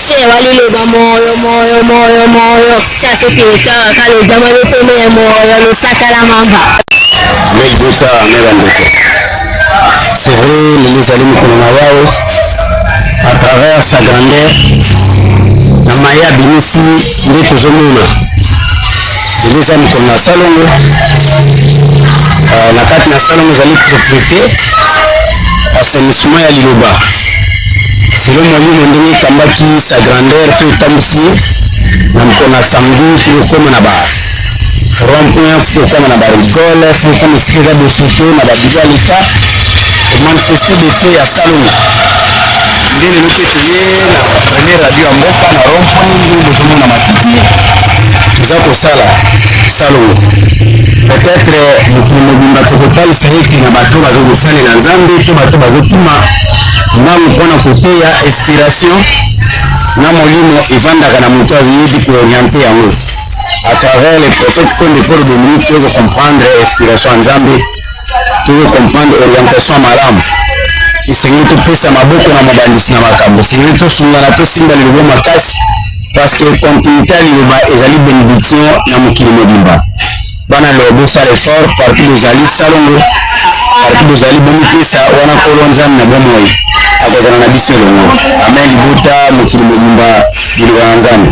Che waliloba moyo moyo moyo moyo kasi totala kalojama loteme ya moyo losaka la mamba Mec Bosa na bandeko c'est vrai lelo ezali mokolo na yawe à travers sa grandeur na maye abimisi nde tozomona lelo eza mokolo na salongo euh, na kati na salongo ezali propriété assainissement ya liloba selon mwalimu na ndenge etambaki sa grandeur to etambwisi ye na mokona samedi tokokoma na ba rond point tokokoma na ba rigole tokokoma esika eza bosoto na babili ya leta manifeste defo ya salonga nde lelo mpe toye na premier radio ya mboka na rond point nde bozomona matiti toza kosala salongo peut-être mokili mobimba tokotalisa ete na bato bazokosalela nzambe to bato bazokima mbangu mpo na koteya inspiration na molimo evandaka na moto ayebi kooriente yango à travers le prophète Konde Paul Dominique tozo comprendre inspiration ya Nzambe tozo comprendre orientation ya malamu esengeli topesa maboko na mobandisi na makambo esengeli tosungana tosimba lilobo makasi parce que continuité ya liloba ezali benediction na mokili mobimba bana lelo bosala effort partout bozali salongo partout bozali bomipesa wana nkolo nzambe na bomoi akozala na biso elongo amen libota mokili mobimba liloba na nzambe